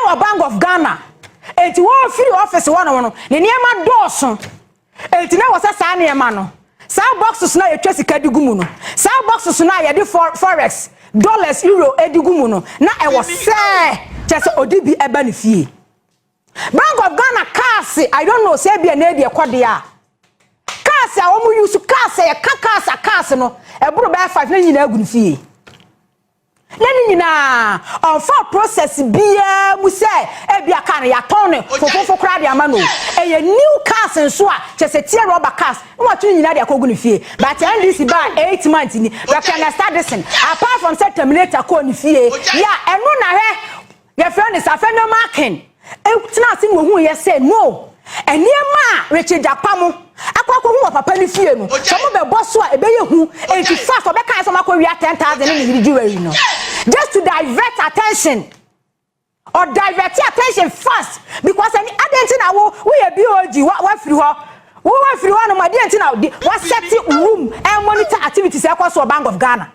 wɔ Bank of Ghana. Enti wɔfiri office hɔnom no, ne nneɛma dɔɔso. Enti na ɛwɔ sɛ saa nneɛma no, saa boxes no a yɛtwa sika de gu mu no, saa boxes no a yɛde forex, dollars, euro de gu mu no, na ɛwɔ sɛ kyɛ sɛ ɔde bi ɛba ne fie. Bank of Ghana cars, I don't know sɛ ebia na edi ɛkɔ deɛ a, cars a wɔn use cars a yɛka cars a cars no ɛboro bɛyɛ five na nyinaa gu ne fie. Yɛ ne nyinaa, ɔmfaa process biaa mu sɛ ebia car no yɛatɔn no fofofo koraa de ama no o, ɛyɛ new cars nso a kyerɛ sɛ tear rubber cars na wato ne nyinaa de akɔgu ne fie. But NDC baa eight months ni, bɛkra na start this thing apart from sɛ terminator kɔɔ ne fie, yeah ɛno na hwɛ. Yɛfrɛ no saa. Fenway Markin tenaa ase na ohuiɛ sɛ, No! Nneɛma a Richard Gyapa mo akɔ akɔhu wɔ papa no fie no, sɛ mobɛbɔ so a, ɛbɛyɛ hu enti fast ɔbɛkaeɛ sɛ ɔmakɔwia 10,000 ne ne yere jewelry no just to divert attention. Ɔ divert attention fast because ɛne adɛn nti na wo woyɛ BOG wa wafiri hɔ wo wafiri hɔ nom adɛn nti na wasɛte room ɛmonitor activities ɛkɔ so wɔ Bank of Ghana.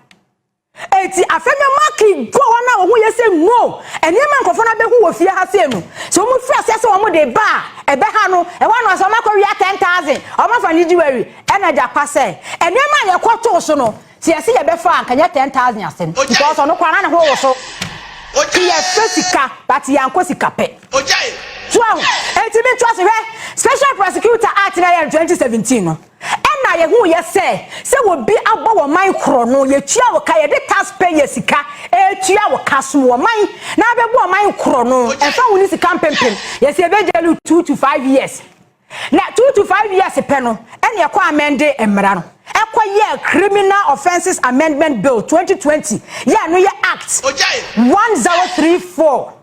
Enti afei na Maki bɔ wɔn a wɔn ho ye sɛ mmo nneɛma a nkurɔfo no abehu wɔ fie ha sei no. Sɛ wɔfi aseɛ sɛ wɔn de ba a, ɛbɛha no. Ɛhɔ ara na ɔse wɔn akɔ wia ten thousand, wɔn afa ne jewelry. Ɛna agya pa sɛ, nneɛma a yɛkɔ too so no, sɛ yɛse yɛbɛfa a, anka nyɛ ten thousand asem. Because ɔno koraa na ne ho woso. Nti yɛpɛ sika, but yɛankɔ sika pɛ. So ahu? Enti me nto ase hwɛ, Special Prosecutor Act no a ɛyɛ no twenty seventeen no. Ɛna yɛhuuiɛ sɛ, sɛ obi abɔ wo ɔman korɔ no, yɛtua wo ka, yɛde tax payer sika retua wo ka, som wo ɔman na abɛbɔ ɔman korɔ no, ɛmfa ho ne sika mpempem, yɛsɛ yɛbɛgyae no two to five years. Na two to five years pɛ no, ɛna yɛkɔ amɛnde mmara no, ɛkɔ yɛɛ Criminal Offences Amendment Bill twenty twenty, yɛ ɛno yɛ Act one zero three four.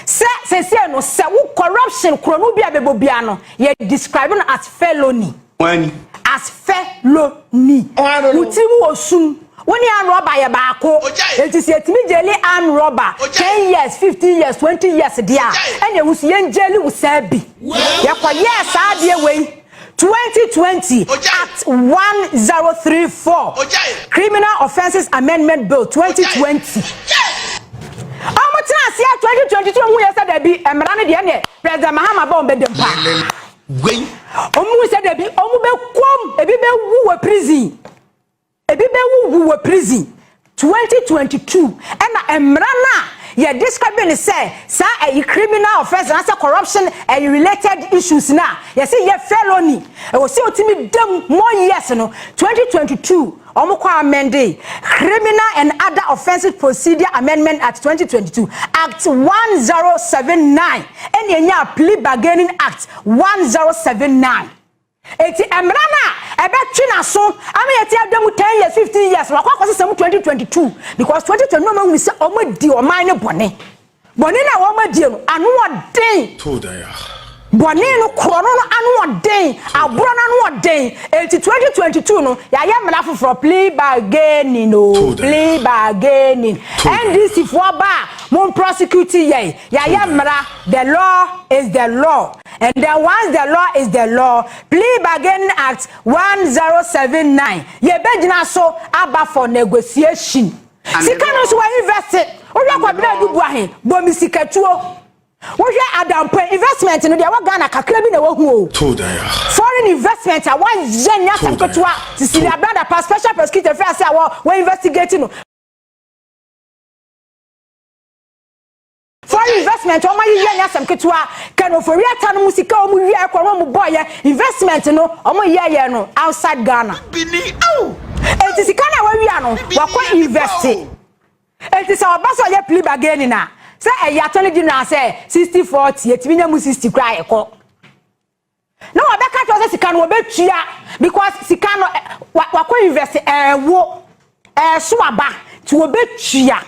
Sɛ sɛsɛ no sɛ wo corruption korɔno bi a bɛbɔ biara no yɛ describe no as felony. Wani. As felony. Wo tiri mu wɔ sum. Wo ne arm robber yɛ baako. Enti sɛ yɛtumi gyeli arm robber ten years, fifteen years, twenty years deɛ a, ɛne wo nso yɛn gyeli wo saa bi. Yɛkɔyɛɛ saa adeɛ wei. Twenty twenty Act one zero three four Criminal Offences Amendment Bill twenty twenty. Ɔmo tena aseɛ twenty twenty two ɔmo yɛ sɛ dabi mmara no deɛ ɛnɛ President Mahama bɔ ɔmo bɛ dɛm paa. Ɔmo sɛ dabi ɔmo bɛ kɔm ebi bɛ wu wɔ prison. Ebi bɛ wu wu wɔ prison. Twenty twenty two ɛna mmara no a yɛ describe no sɛ saa ɛyi criminal offence anaasɛ corruption ɛyi related issues no a yɛse yɛ felony ɛwɔ sɛ otumi da mu more years no twenty twenty two wɔn kɔ amendee Criminal and Other Offences Procedure Amendment Act twenty twenty two Act one zero seven nine ɛna enyaa Plea Bargaining Act one zero seven nine. Enti mmara no a ɛbɛtwe n'aso ama yɛate ada mu ten years, fifteen years no, wakɔ akɔsesa mu twenty twenty two because twenty twenty no wɔahunu sɛ wɔadi ɔman no bɔne. Bɔne no a wɔadie no, ano wɔ den. Bɔne no, korɔno no ano wɔ den, aborɔ no ano wɔ den. Enti twenty twenty two no, yɛayɛ mmara foforɔ, plea bargaining o, plea bargaining. NDC foɔ ba a, mo mprɔsecute yɛn, yɛayɛ mmara, the law is the law. And then once the law is the law, Plea Bargaining Act 1079, yɛbɛgyina so aba for negotiation. And Sika no nso wɔ invest, wohwɛ Kwabena Dubois he, Bomi Sikatuo, wohwɛ Adampɔn, investment no deɛ wɔ Ghana kakra bi na wahu o. Foreign investment a wayɛ nyɛ asɛm ketewa, Cecilia Blanda pa special prosecutor fɛ ase a wɔ investigate no. Foreign investment wɔn ayi yɛ nyɛ asɛm ketewa kɛn ofori ata no mu sika wɔn wia ɛkɔ wɔn mu bɔ yɛ investment no wɔn yɛ yɛ no outside Ghana eti sika na wɔawia no wɔkɔ invest eti sɛ ɔba sɛ ɔyɛ plea bargaining a sɛ ɛyɛ attorney general sɛ sixty forty etimi nya mu sixty koraa ɛkɔ. Na wɔbɛka kyerɛ sɛ sika no wɔbɛtua because sika no wakɔ invest ɛɛwo ɛɛso aba nti wɔbɛtua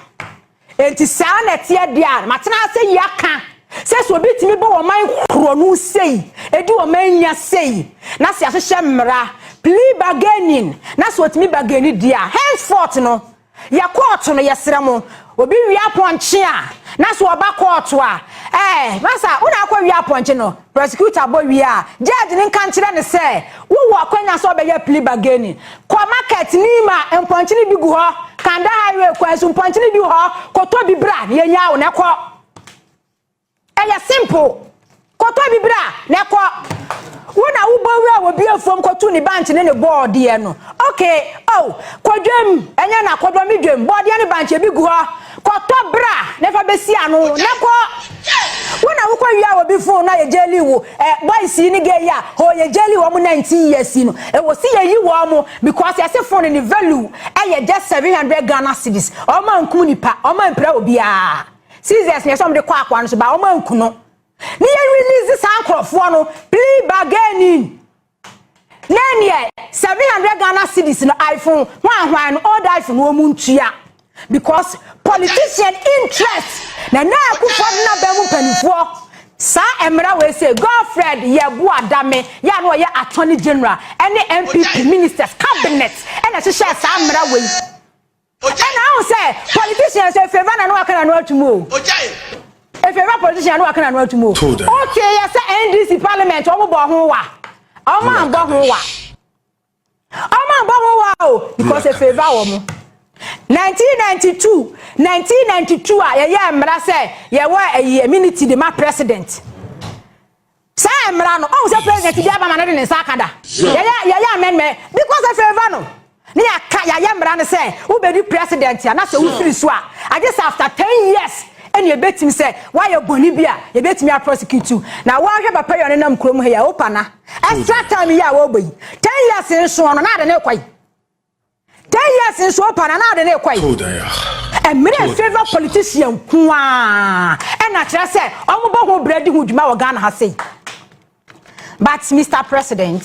nti saa na ɛteɛ deɛ a matena ase yi aka sɛ sɛ obi tumi bɔ wɔman korɔno sei ɛdi wɔman nya sei na sɛ ahyehyɛ mmara plea bargaining na sɛ ɔtumi bargaini deɛ a henceforth no Yɛ kɔɔto no yɛsrɛ mo. Obi wia pɔnkye a na so ɔba kɔɔto a ɛɛ masa wo na akɔ wia pɔnkye no prosecutor bɔ wie a judge no nka nkyerɛ no sɛ wo wɔ akwanya sɛ ɔbɛyɛ plea bargaining kɔ market nim a mpɔnkye no bi gu hɔ kanda highway kwan so mpɔnkye no bi wɔ hɔ kɔtɔ bi bra na yɛnyaa wo na ɛkɔ Ɛyɛ simple. Kɔtɔ bi bra na ɛkɔ. Wo na wo bɔ wura wɔ bi afuom kɔ tu ne bankye ne ne bɔɔdeɛ no. Okay. Oh, kɔ dwam. Ɛnyɛ na kɔ dɔ me dwam. Bɔɔdeɛ ne bankye bi gu hɔ. Kɔtɔ bra na fa bɛsi ano na kɔ. Wo na wo kɔ wia wɔ bi fon na yɛ gyɛli wo. Eh, boys yi ne gay yi a, hoo yɛ gyɛli wɔn 19 years yi no. Ɛwɔ si yɛ yi wɔn because yɛ se fon ne value ɛyɛ just 700 Ghana cedis. Wɔn ankum nipa, wɔn ampira obiara. Seizures na ɛsɛ wɔn de kɔ akoa no so ba wɔn anku no ne yɛ release saa nkorɔfoɔ no plea bargaining na neɛ seven hundred Ghana cedis no iPhone hwan hwan no old iPhone no wɔn ntua because politician interest na na akufo de na bɛn mu mpanimfoɔ saa mmerɛ wei sɛ Godfred Yɛbo Adame yɛ a na ɔyɛ attorney general ɛne NPP ministers cabinet ɛna hyehyɛ saa mmerɛ wei. Ɔgyae. Ɛna ahu sɛ politicians efireba na no aka na no atum o. Ɔgyae. Efireba politician no aka na no atum o. Told her. Oke yɛ sɛ NDC parliament ɔmo bɔ ho wa. Ɔmo anbɔ ho wa. Ɔmo anbɔ ho wa o because efireba wɔ mo. 1992 1992 a yɛyɛ mmra sɛ yɛwɔ ɛyi immunity de ma president. Saa mmara no, ɔhu sɛ president biara bɛma no de ne nsa aka da. Yɛyɛ yɛyɛ amendment because of favor no. Ne yɛaka yɛayɛ mmara no sɛ wobɛdi president a na sɛ wofiri so a agye sɛ after ten years ɛna ɛbɛtumi sɛ woayɛ bɔne bi a yɛbɛtumi a prosecute you. Na woahwɛ papa yi a ɔne nam kurom ha yi a, Opana, extra time yi a wɔrebɔ yi, ten years nsoɔ no na ade no rekɔ yi. Ten years nsuo pa na na ɔde ne kɔe. Mmerɛ a favour politician nko ara ɛna kyerɛ sɛ wɔn bɔ ho brɛ di ho dwuma wɔ Ghana ha sei. But Mister President,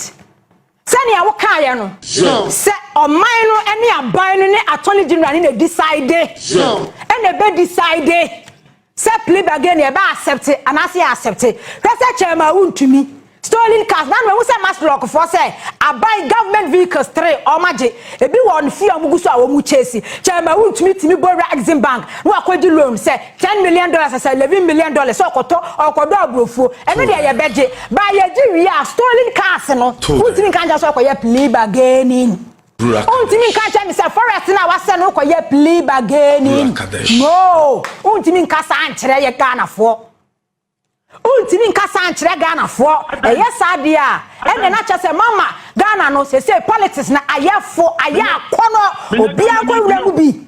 sɛnea wo kaeɛ no sɛ ɔman no ne aban no ne attorney general ne na decide ɛna ɛbɛ decide. Sɛ plea bargain yɛ bɛ accept anaasɛ yɛ accept hwɛ sɛ chairman wo ntumi. Stolen cars na no mahu sɛ mass lock foɔ sɛ aban government vehicles three wɔn agye ebi wɔ wɔn fie a wɔn gu so a wɔn chase chairman wo ntumi tumi bɔ wura exim bank na wakɔ gye loan sɛ ten million dollars asɛ eleven million dollars sɛ ɔkɔtɔ ɔkɔdɔ abrofuo ɛno deɛ yɛ bɛ gye ba yɛ gye wie a stolen cars no wo ntumi nka nkyɛn sɛ ɔkɔ yɛ plea bargaining. Ruach Kadesh. Wontumi nka nkyerɛ me sɛ forest no a wasɛ no wokɔyɛ plea bargaining. Ruach Kadesh. No, wontumi nka saa nkyerɛ yɛ Ghanafoɔ. Wontumi nka saa nkyerɛ Ghanafoɔ. Ɛyɛ saa deɛ a, ɛnna na kyerɛ sɛ mama Ghana no sese politics no ayɛ fo, ayɛ akɔnɔ, obiara nkɔ nwura mu bi.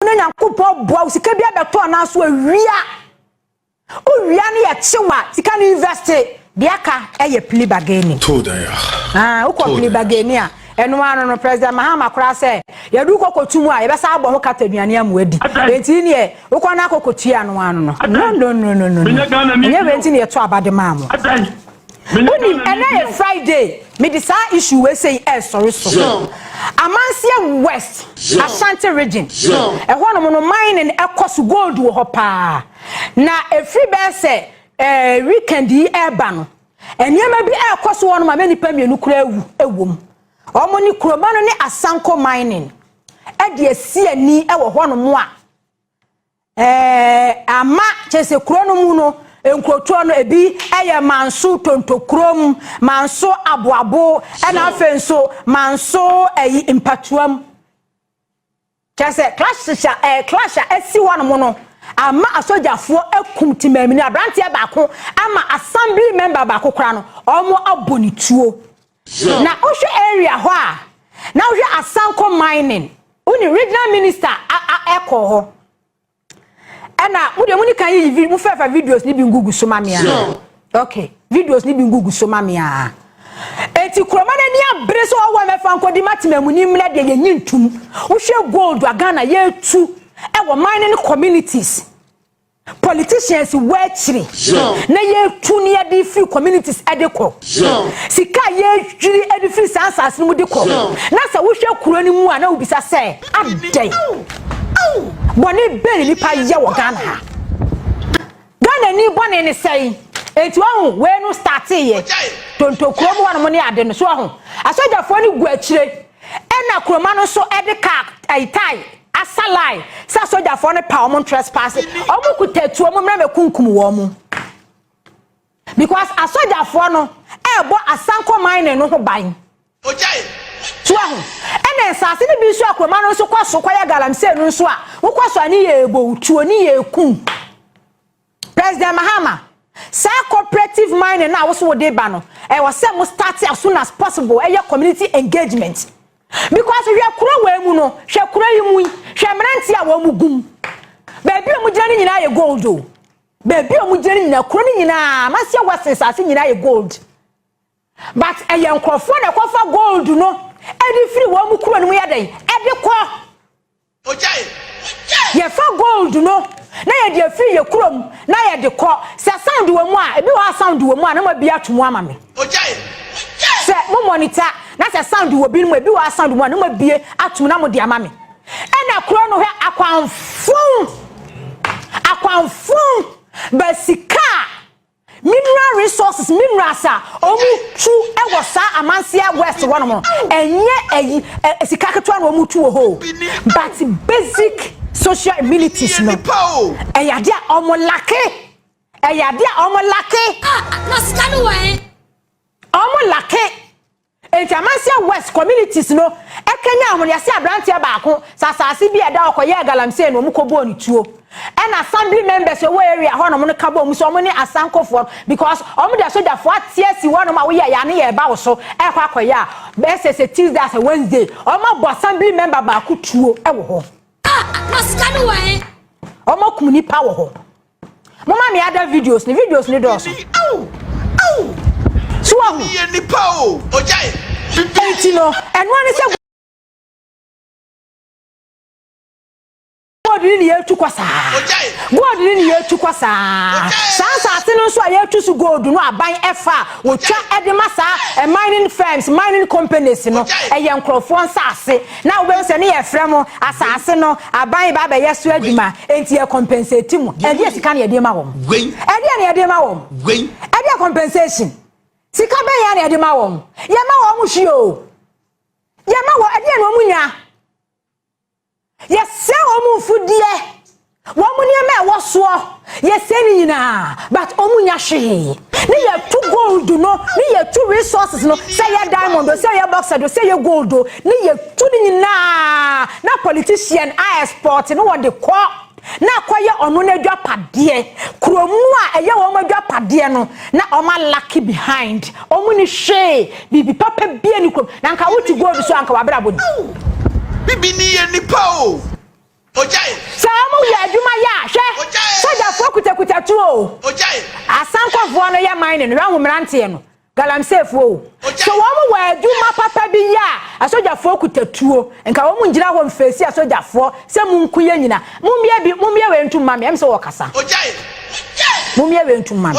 Wo ne Nyankopɔn boa wo sika bi abɛtɔ anaa so awia. Owia no yɛ kyew a sika no invest de aka ɛyɛ plea bargaining. Too dan a. Ah, wokɔ plea bargaining a ɛno ano no President Mahama koraa sɛ yɛdu kɔkɔtu mu a yɛbɛsa abɔ ho kata aduane amu adi. Enti neɛ wokɔ no akɔkɔtua ano ano no. No no no no no. Ɛnyɛ wei nti na yɛto aba de maa mo. Wonim ɛnɛ yɛ Friday me de saa issue wei sei ɛresɔre so. Amanseɛ West Ashanti Region ɛhɔ nom no mining ɛkɔ so gold wɔ hɔ paa na ɛfiri bɛyɛ sɛ eh, weekend yi ɛreba no nneɛma bi ɛrekɔ so hɔ nom ama nnipa mmienu koraa awu ɛwɔ mu. Wɔn ne Kuroma no ne Asanko mining ɛde asi ani ɛwɔ hɔ nom a Eh, ama kyerɛ sɛ kuro no mu no nkurotoɔ no ebi yɛ manso tontokurom manso aboabo ɛna afei nso manso ɛyi mpatuam kyerɛ sɛ clash a ɛɛ eh, clash a ɛsi hɔ nom no ama asogyafoɔ akum temaamini aberanteɛ baako ama assembly member baako koraa no wɔn abɔ ne tuo. Na wohwɛ area hɔ a na wohwɛ asanko mining wone regional minister ɛkɔ hɔ ɛna mo deɛ mo ni kan yiyi mo fɛfɛ videos ni bi ngugu so ma me a okay videos ni bi ngugu so ma me a eti kuroma na ni abere so ɔwɔ mɛfa nkodi matema mu ni mena deɛ yɛnyi ntum wohwɛ gold a Ghana yɛtu ɛwɔ mining communities Politicians wɔ akyiri na yɛtu ne yɛde firi communities de kɔ. Sika a yɛyiri de firi saa nsaase no mu de kɔ. Na sɛ wohwɛ kuro no mu a na wobisa sɛ adɛn? Bɔne bɛn na nipa yɛ wɔ Ghana ha? Ghana ni bɔne ne sɛn? Enti wahu wei no starteeɛ. Tonto kurom hɔnom ne ade no so wahu. Asogyafoɔ no gu akyire. Ɛna kuroma no nso de kaa ɛyi tae asa line sɛ asogyafoɔ no pa wɔn ntrɛspaase wɔn kuta tuo wɔn mmerɛ mɛkunkum wɔn because asogyafoɔ no ɛɛbɔ asanko mining no ho ban so ahu ɛna nsaase no bi nso a kuroma no nso kɔ so kɔ yɛ galamsey no nso a wokɔ so a ne yɛ ɛɛbɔ tuo ne yɛ ɛkun. President Mahama, saa cooperative mining no a wo so wode reba no, ɛwɔ sɛ mo start as soon as possible, ɛyɛ community engagement. Because hwɛ kuro wei mu no, hwɛ kuro yi mu yi, hwɛ mmeranteɛ a wɔn gum. Baabi a wɔn gyina no nyinaa yɛ gold o. Baabi a wɔn gyina no nyinaa, kuro no nyinaa, Amasia West nsaase nyinaa yɛ gold. But ɛyɛ nkurɔfoɔ na ɛkɔfa gold no ɛde firi wɔn mu kuro no mu yɛ dɛn ɛde kɔ. Yɛfa gold no na yɛde afiri yɛ kurom na yɛde kɔ. Sɛ sound wɔ mu a, ebi wɔ hɔ a sound wɔ mu a na moabie ato mu ama me. Sɛ mo monitor na sɛ sound wɔ binom a, ebi wɔ hɔ a sound wɔ mu a na moabie ato mu na mode ama me. Ɛna kuro no hwɛ akwanfon, akwanfon ba sika a. Mineral resources, minerals a wɔn tu wɔ saa amanseɛ west hɔ nom no, ɛnyɛ ayi, ɛ, sika ketewa na wɔn tu wɔ hɔ o. But basic social amenities no, ɛyɛ adeɛ a wɔn lacke. Ɛyɛ adeɛ a wɔn lacke. Ah, na sika no wɔ he? Wɔn lacke. Enti Amansia West Communities no kanyan ahwenease abranteɛ baako sɛ asaase bi a ɛda hɔ kɔyɛɛ galamsey na wɔn kɔbɔɔ no tuo. Ɛna Assembly members a wɔwɔ area hɔ nom no ka bɔɔ mu sɛ wɔn ne Asankofoɔ no because wɔn de asogyafoɔ ate asi hɔ nom a woyɛ ya ne yɛ ba wo so ɛkɔ akɔyɛ a bɛsɛ sɛ Tuesday asɛ Wednesday wɔn abɔ Assembly member baako tuo wɔ hɔ. Ah! Na sika no wɔ he? Wɔakum nnipa wɔ hɔ. Mo ma me ada videos ni videos ni dɔɔso. Awu awu. So wa hu. Yɛ nipa o ɔgya yɛ. Eti no ɛno ani sɛ. God ni ni yɛ tu kɔ saa. God ni ni yɛ tu kɔ saa. Saa nsaase no nso a yɛ tu so gold no aban ɛfa a wɔtwa ɛde ma saa mining firms mining companies no ɛyɛ nkorɔfoɔ nsaase Na wobɛhu sɛ ne yɛ frɛ mo asase no aban ba bɛyɛ so adwuma enti yɛ compensate mo ɛdeɛ sika na yɛde ma wɔn ɛdeɛ na yɛde ma wɔn ɛdeɛ compensation sika bɛn ya na yɛde ma wɔn yɛ ma wɔn hwi o yɛ ma wɔn ɛdeɛ na wɔn nya yɛ sɛ wɔn mfudeɛ Wɔn nneɛma a ɛwɔ soɔ yɛ sɛɛ no nyinaa but wɔn nya hwee. Ne yɛ tu gold no ne yɛ tu resources no sɛ ɛyɛ diamond o sɛ ɛyɛ bauxite o sɛ ɛyɛ gold o ne yɛ tu no nyinaa na politician a export no wɔde kɔ na akɔ yɛ ɔno n'adwapadeɛ kurom no a ɛyɛ wɔn adwapadeɛ no na wɔn a lucky behind wɔn ni hwee biribi papa bia ni kurom na nka wo te gold so a nka w'abrabɔ ni. Bibi ni yɛ nipa o. Sɛ wɔn wie adwuma yɛ a, hwɛ! Sogyafoɔ kutakuta tuo o, asankɔfoɔ no yɛ mining, hwɛ hu mmeranteɛ no, galamseefoɔ o. Sɛ wɔn wɔ adwuma papa bi yɛ a, asogyafoɔ kuta tuo. Nka wɔn ngyina hɔ nfeesi asogyafoɔ sɛ monku yɛn nyina. Mommie bi, mommie wei ntom mma me, ɛm sɛ wɔɔkasa. Mommie wei ntom mma me.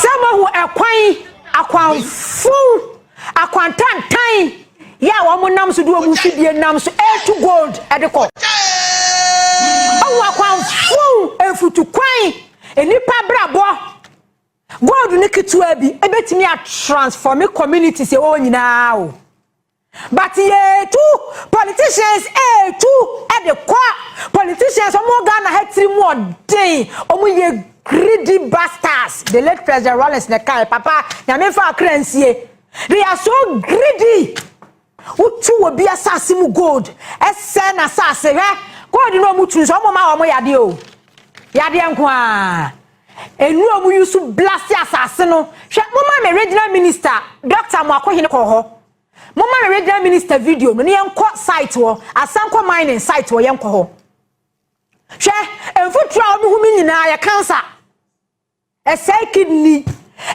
Sɛ mohu ɛkwan akwanfun akwantantan yɛ a wɔn nam so de wɔn mfidie nam so ɛretu gold ɛde kɔ ɔwɔ akwanfun mfutukwan nnipa abrabɔ gold ne ketewa bi ebetumi atransforme communities ɛwɔ nyinaa o. But yetu politicians etu de kɔ politicians ɔmo wɔ Ghana ha tiri mu ɔden ɔmo yɛ greedy bastards the late president Rawlings na ɛkae papa nyame nfa akra nsie they are so greedy wotu wɔ bi asase mu gold ɛsɛ na asase hwɛ gold na ɔmo tu nso ɔmo ma ɔmo yadeɛ o yadeɛ nko aa. Nnuro mu yusu blase asase no hwɛ moma me regional minister Doctor Amoako Hene kɔ hɔ moma me regional minister video no ne yɛn kɔ site wɔ Asanko mining site wɔ yɛn kɔ hɔ hwɛ mfuturo a wɔn ho mi nyinaa yɛ cancer ɛsɛe kidney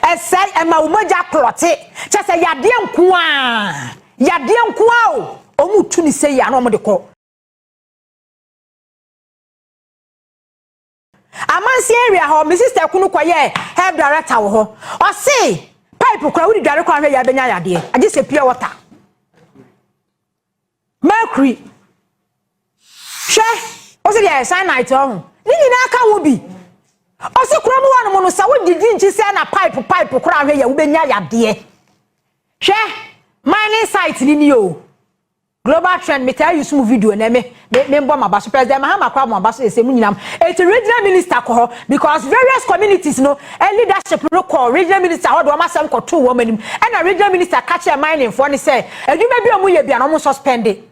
ɛsɛe ɛma wɔn mogya klɔte kyɛ sɛ yadeɛ nkoa yadeɛ nkoa o wɔn tu ne sɛ yɛ ano wɔn de kɔ. Amansin area hɔ me sister kunu kɔyɛɛ hair director wɔ hɔ ɔse pipe kora wode dware kɔ ahwɛ yɛ abɛnya yadeɛ agye sɛ pure water mercury hwɛ ɔse deɛ cyanite ɔho ne nyinaa ka wo bi ɔse kura mu hɔ nom no sɛ wodidi nkyi sɛ na pipe pipe kora ahwɛ yɛ wobɛnya yadeɛ hwɛ mining site ni ni o Global trend me taa use mu video na me me me bɔ m'aba so President Mahama kora mo aba so ɛsɛ mu nyinam eti regional minister kɔ hɔ because various communities no ɛ leadership no kɔ regional minister hɔ de wɔn asɛm kɔ too wɔn anim ɛna regional minister ka kyerɛ mining foɔ no sɛ adwuma bi a wɔn yɛ bia na wɔn suspende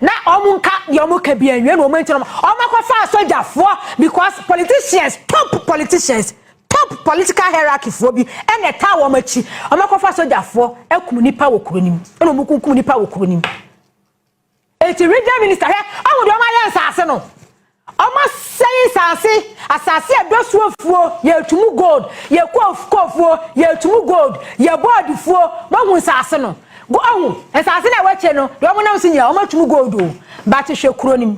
na wɔn nka deɛ wɔn ka bia nwie na wɔn nti na wɔn akɔ fa asogyafoɔ because politicians top politicians Top political hierarchy foɔ bi na ɛtaa wɔn akyi, wɔn akɔfa sogyafoɔ akum nipa wɔ kuro no mu, ɛna wɔn kunkum nipa wɔ kuro no mu. Eti region minister hwɛ, wɔn deɛ wɔn ayɛ nsaase no, wɔn asɛe nsaase, asaase a ɛdɔ so afuo, yɛtumu gold, yɛ koof koofuo, yɛtumu gold, yɛ board fuo, wɔn ahu nsaase no, go ahu nsaase na ɛwɔ akyire no, deɛ wɔn nam so nyinaa wɔn atumu gold o, but hwɛ kuro no mu.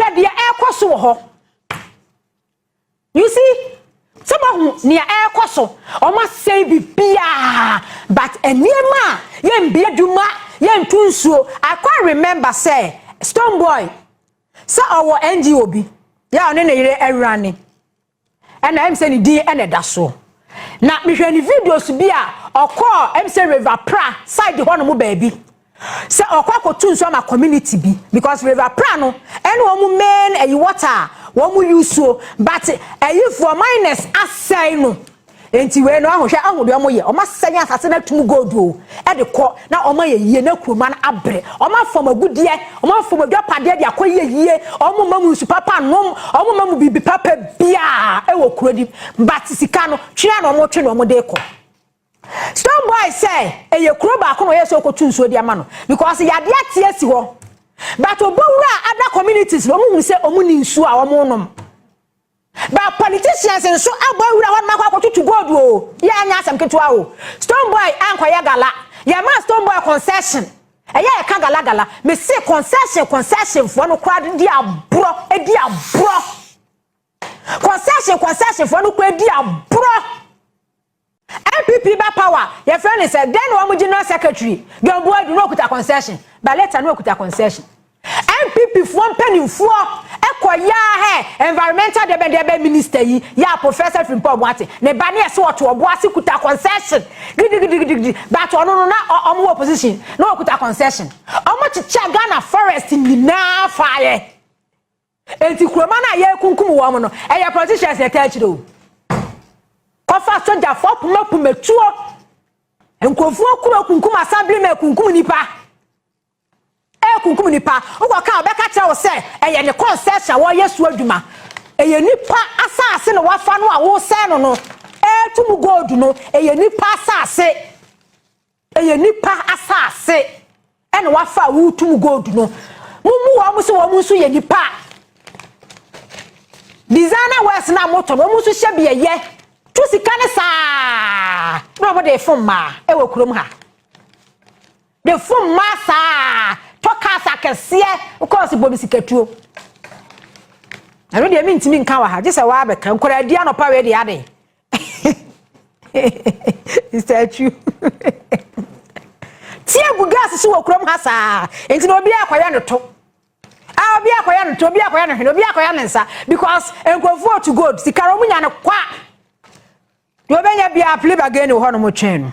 Hwɛ deɛ ɛrekɔ so wɔ hɔ. You see? Sɛ mahu nea ɛrekɔ so, wɔn asɛe biribiara but nneɛma a yɛnbi adwuma, yɛntu nsuo. I quite remember sɛ Stonebwoy sɛ ɔwɔ NGO bi yɛ a ɔne ne yere rane. Ɛna ɛm sɛ ne din ɛna ɛda so. Na mehwɛ ne videos bi a ɔkɔɔ ɛm sɛ River Pra side hɔ nom baabi. Sɛ ɔkɔ akɔtu nsuo ama community bi because River Pra no ɛne wɔn main ɛyi water a wɔn use o but ɛyifoɔ miners asɛe no. Enti wei no, ahu, hwɛ, ahu deɛ wɔyɛ, wɔasɛn asase no ato mu gold o, de kɔ, na wɔayɛ yie, na kuroma no abere, wɔafɔm agudeɛ, wɔafɔm adwapadeɛ de akɔyɛ yie, wɔmma mu nsu papa nnom, wɔmma mu biribi papa biara wɔ kuro no mu, but sika no, twe ara na wɔtwe na wɔde rekɔ. Stone Boy sɛ ɛyɛ kuro baako na ɔyɛ sɛ ɔkɔtu nsuo de ama no, because yadeɛ ate asi hɔ, but Obowura a other communities no, wɔhunu sɛ wɔnni nsuo a wɔnom. But politicians nso abɔ nwura hɔ nom akɔ akɔtutu gold o, yɛ anyɛ asɛm ketewa o, stone boy ankɔyɛ gala, yɛ maa stone boy concession, ɛyɛ a yɛka gala gala, me se concession concession foɔ no koraa de di aborɔ, ɛdi aborɔ, concession concession foɔ no koraa ɛdi aborɔ. NPP ba power yɛfrɛ no sɛ dɛn na wɔn general secretary John Boadu na ɔkuta concession but later na ɔkuta concession NPP foɔ mpanimfoɔ ɛkɔ yaa hɛ environmental dɛbɛn dɛbɛn minister yi yaa Professor Frimpong Boate ne ba ne ɛsɛ ɔto ɔbo ase kuta concession gidigidigidigidi but ɔno no na wɔn wɔ opposition na ɔkuta concession wɔn kyekyɛ Ghana forest nyinaa faeɛ Enti kuroma no a yɛrekunkum wɔn no, ɛyɛ politicians na ɛtaa kyerɛ o. Kɔfa sogyafo apem apem atuo. Nkurɔfoɔ akuru akunkum assemblymen akunkum nipa. Ɛkunkum nipa. Wokɔka ɔbɛka kyerɛ wo sɛ ɛyɛ ne concession wɔyɛ so adwuma. Ɛyɛ nipa asase na wafa no a wosɛe no no. Ɛretu mu gold no ɛyɛ nipa asase. Ɛyɛ nipa asaase ɛna wafa a woretum gold no. Mumu wɔn sɛ wɔn nso yɛ nipa. Designer wears na moto no wɔn nso hyɛ bi ɛyɛ. Tu sika ne saa na wɔn de fom mmaa ɛwɔ kurom ha. De fom mmaa saa tɔ cars akɛseɛ wokɔ ɔsi bɔ mi sikatuo. Ɛno deɛ mi ntumi nka wɔ ha gye sɛ wɔabɛka nkwadaa di anɔpa wei deɛ aden. Mr. Achu. Tia gu gas so wɔ kurom ha saa. Nti na obi akɔyɛ no to. Ah, obi akɔyɛ no to, obi akɔyɛ no hwene, obi akɔyɛ no nsa because nkurɔfoɔ to gold. Sika no ɔmo nya no kwa. Deɛ ɔbɛnya bia plebe again wɔ hɔ no mo twɛn no.